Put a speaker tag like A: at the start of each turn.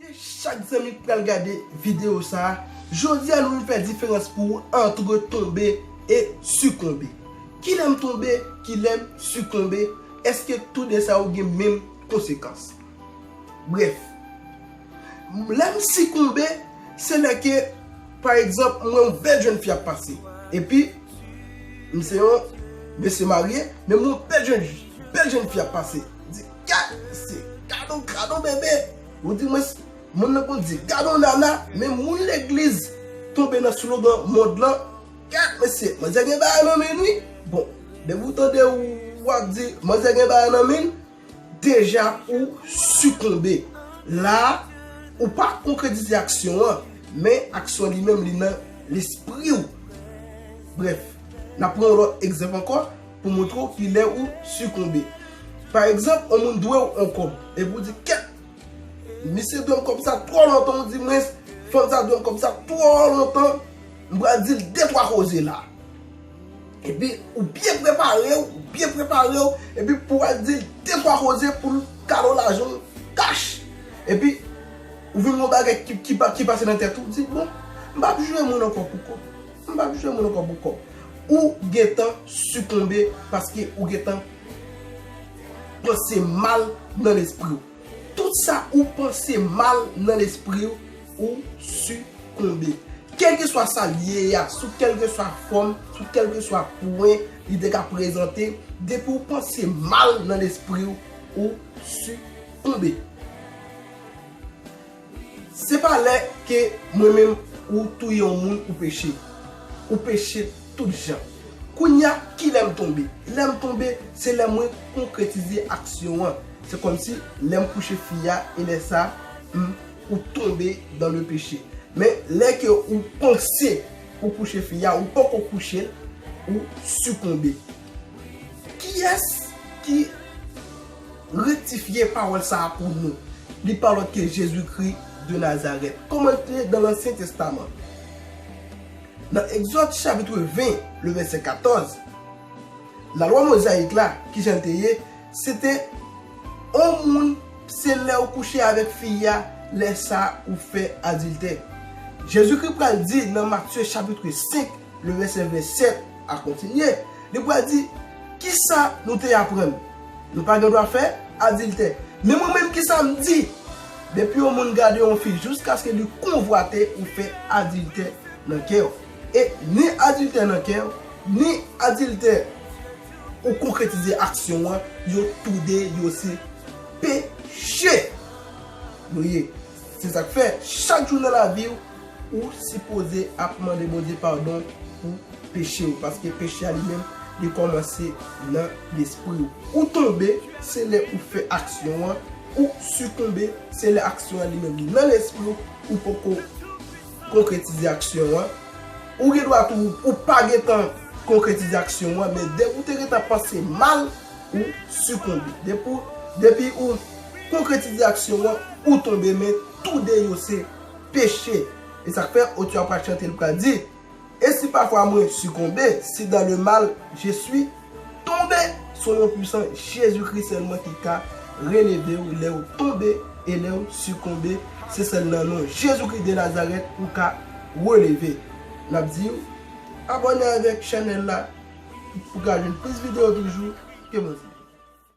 A: Gen chak zanmi ki pral gade video sa a, jodi a nou vin fè diferans pou ou antre tonbe e sikonbe. Kilè m tonbe, kilè m sikonbe, èske tou de sa yo gen menm konsekans? Brèf, lè m sikonbe, se lè ke pa egzanp m wè yon bèl jenn fi ap pase, epi m se yon mesye marye, men m wè yon bèl jenn fi ap pase. Gad se gadon gadon bebe ou di mwen moun nan konn di gadon nana men moun legliz tonbe nan slogan mond lan gad mesye manzè gen bagay nan menn wi bon depi ou tande ou wap di manzè gen bagay nan menn deja ou sikonbe la ou pa konkretize aksyon an men aksyon li menm li nan lespriw brèf nap pran yon lòt egzanp ankò. pou montre w ki lè ou sikonbe. Pa egzanp, yon moun dwe w yon kòb, epi w di, Kèt! Misye dwe m kòb sa twò lontan, ou di mwens, fanm sa dwe m kòb sa twò lontan, m pral di l detwa koze la. Epi, ou byen prepare w, ou byen prepare w, epi pou w al di l detwa koze pou l kado lajan w kach. Epi, ou vin gen yon bagay ki pase nan tèt ou, ou di, Bon, m pa ap jwe moun ankò pou kòb. M pa bzwen moun ankò bouko. Ou gentan sikonbe paske ou gentan panse mal nan lespriw. Tout sa ou panse mal nan lespriw ou sikonbe. Kelkeswa sa li ye a, sou kelkeswa fòm, sou kelkeswa pwen li te ka prezante, depi ou panse mal nan lespriw ou sikonbe. Se pa lè ke mwen menm ou touye yon moun ou peche. Ou peche tout jan. Kounye a, ki lè m tonbe? Lè m tonbe, se lè mwen konkretize aksyon an. Se kòmsi lè m kouche fi a e lè sa m ou tonbe dans le péché. Men lè ke ou panse ou kouche fi a, ou poko kouche l, ou sikonbe. Kiyès ki rektifye pawòl sa a pou nou? Li pa lòt ke Jezikri de Nazarèt. Kòman l te nan Lansyen Testaman? Nan Egzòd chapitre 20, le vèsè 14, Lalwa Mozayik la, ki jan l te ye, se te, On moun, se lè ou kouche avèk fi a, lè sa a ou fè adiltè. Jezikri pral di nan Matye chapitre 5, le vèsè 27, a kontinye, li pral di, Kisa nou te aprann? Nou pa gen dwa fè adiltè. Men mwen menm, kisa m di? Depi yon moun gade yon fi jiskaske li konvwate ou fè adiltè nan kè w. E ni adiltè nan kè w, ni adiltè ou konkretize aksyon an, yo toude yo se peche. Nou ye. Se sa k fè, chak jou nan lavi w, Ou sipoze ap mande Bondye padon pou peche ou paske peche a li menm li kòmanse nan lespri ou. Ou tonbe se lè ou fè aksyon an, ou sikonbe se lè aksyon an li menm li nan lespri ou, ou poko konkretize aksyon an, ou gen dwa tou ou pa gentan konkretize aksyon an men depi ou te gentan panse mal ou sikonbe. Depi ou konkretize aksyon an ou tonbe men tou de yo se peche. E sa k fè, otè a pral chante, li pral di, E si pafwa mwen sikonbe, si dan le mal je swi tonbe, s o non pwisan Jezi Kri sèlman ki ka releve w lè w tonbe e lè w sikonbe, se sèl nan non Jezi Kri de Nazarèt ou ka releve. N ap di w, abòne avèk chanèl la pou ka jwenn plis videyo toujou. Ke Bondye beni w.